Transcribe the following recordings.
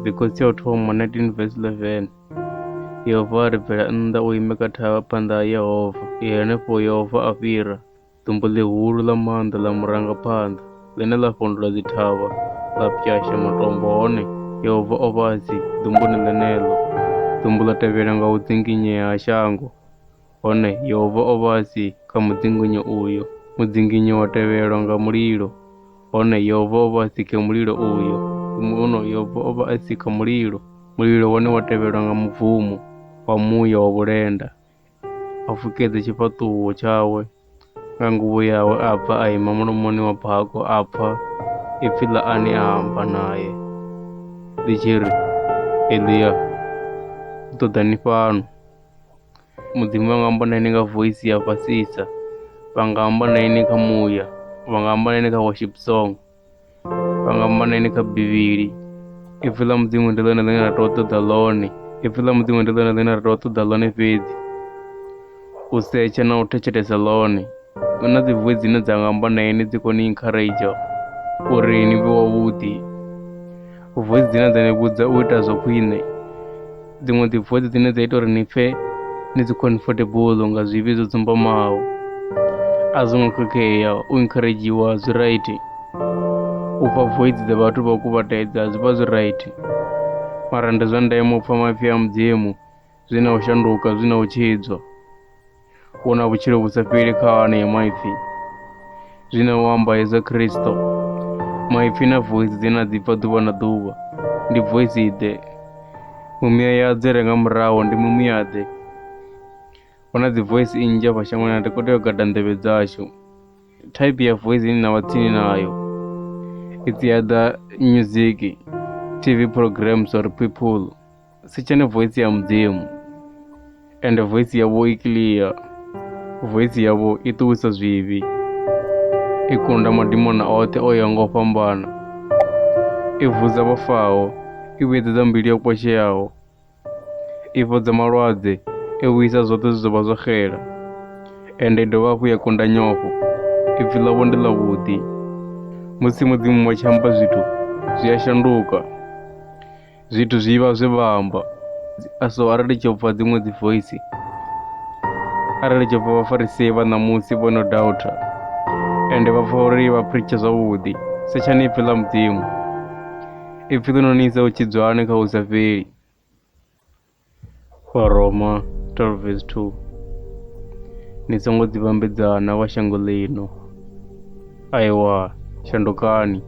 Mikosi ya u thoma 19 verse 11 Yehova a ri bvela nnḓa u ime kha thavha phanḓa ha Yehova i henefho Yehova a fhira ḓumbu ḽihulu ḽa maanḓa ḽa murangaphanḓa ḽine ḽa fhondula dzithavha ḽa pwyasha matombo hone Yehova o vha a si ḓumbuni ḽeneḽo ḓumbu ḽa tevhela nga u dzinginyea ha shango Hone Yehova o vha a si kha mudzinginyo uyo. Mudzinginyo wa tevhelwa nga mulilo. Hone Yehova o vha a si khe mulilo uyo. Huno Yehova o vha a si kha mulilo. Mulilo wone wa tevhelwa nga mubvumo wa muya wa vhulenda, a fukedza tshifhaṱuwo tshawe. nga nguvho yawe a bva a ima mulomoni wa bako a pfa ipfi ḽa ane a amba naye ḽi tshi ri elia u ṱoḓa ni fhano mudzimu vha nga amba na ine nga voisi ya fhasisa vha nga amba na ine kha muya vha nga amba na ine kha worship song pangamaneni kha bivhili ipfi ḽa mudzimu ndi ḽone ḽine ra tea u ṱoḓa ḽone ipfi ḽa mudzimu ndi ḽone ḽine ra tea u ṱoḓa ḽone fhedzi u setsha na u thetshelesa ḽone hu na dzi voi dzine dza nga amba na ini dzi kone u encourager uri ni vhe wavhuḓi voice dzine dza ni vhudza u ita zwa khwine dziṅwe dzi voice dzine dza ita uri ni pfhe ni dzi comfortable nga zwivhi zwo dzumbamaho a zwo ngo khakhea u encouragiwa zwi right u pfha voice dza vhathu vha u kuvhatedza zwi vha zwi right mara ndi zwa ndeme u pfha mafhi a mudzimu zwi na u shanduka zwi na u tshidzwa u na vhutshilo vhu sa fheli kha anea maipfi zwi na u amba hezwa khristo maipfi na voice dzi na dzi bva ḓuvha na ḓuvha ndi voice ḓe mumiya ya dze renga muraho ndi mumiya ḓe hu na dzi voice nnzhi afha shangoni na ri khou tea u gada nḓevhe dzashu type ya voice ine na vha tsini nayo it's either music tv programs or people si tshene voice ya mudzimu ende voice yavho i clear voice yavho i ṱuwisa zwivhi i kunda madimona oṱhe o ya ngo fhambana i vhudza vhafaho i vhedzedza mbilu yo kwasheaho i fhodza malwadze i vhuyisa zwoṱhe zwi zwo vha zwo xela ende i dovha hafhu ya kunda nyofho ipfi ḽavho ndi ḽavhuḓi musi mudzimu wa tshi amba zwithu zwi a shanduka Zwithu zwi vha zwe vha amba so arali tsho pfha dziṅwe dzi voice arali tsho pfha vhafarisi vha ṋamusi vho no doubter ende vha pfha uri vha preache zwavhuḓi setshani ipfhi ḽa mudzimu ipfhi ḽi no ni isa u tshidzwani kha u sa fheli Vharoma 12 vesi 2 Ni songo dzi vhambedza na vha shango ḽino. Aewa, shandukani,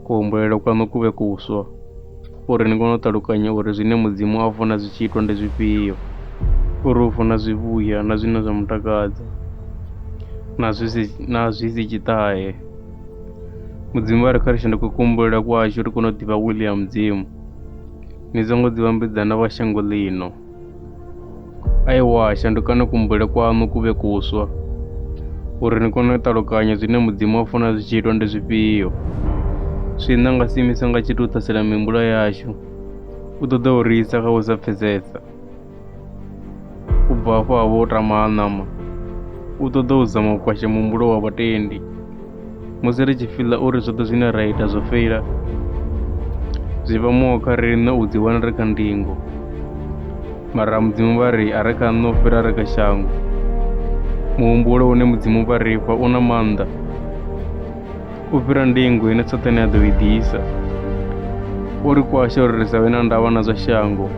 kuhumbulele kwaṋu ku vhe kuswa, uri ni kone u ṱalukanya uri zwine Mudzimu a funa zwi tshi itwa ndi zwifhio, uri u funa zwivhuya na zwine zwa mu takadza, na zwi si, na zwi si tshiṱahe. Mudzimu vha ri kha ri shanduke kuhumbulele kwashu ri kone u ḓivha wili ya Mudzimu. Ni songo dzi vhambedza na vha shango ḽino. Aiwa, shandukani kumbule kwaṋu ku vhe kuswa, uri ni kone u ṱalukanya zwine Mudzimu a funa zwi tshi itwa ndi zwifhio. Swiṋe a nga si imiswe nga tshithu u ṱhasela mihumbulo yashu, u ṱoḓa u ri isa kha u sa pfesesa. u bva hafho a vho tama ha ṋama u ṱoḓa u zama u kwasha muhumbulo wa vhatendi musi ri tshi fiḽa uri zwoṱhe zwine ra ita zwo feila zwi vha muho kha riṋe u ḓiwana ri kha ndingo mara mudzimu vha ri a ri kha nṋe u fhira ri kha shango muhumbulo une mudzimu vha ri fha u na maanḓa u fhira ndingo ine Saṱane a ḓo i ḓisa. O ri kwasha uri ri sa vhe na ndavha na zwa shango.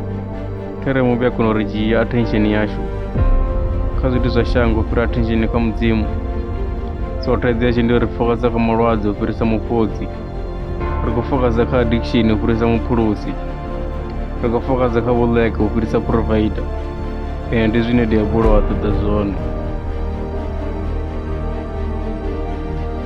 Khere muvhi a kona u ri dzhia attention yashu kha zwithu zwa shango u fhira attention kha mudzimu. So thaidzo yashu ndi uri ri fokaza kha malwadze u fhirisa mufhodzi. Ri khou fokaza kha addiction u fhirisa muphulusi. Ri khou fokaza kha vhuḽeke u fhirisa provider. Ee, ndi zwine diabolo a ṱoḓa zwone.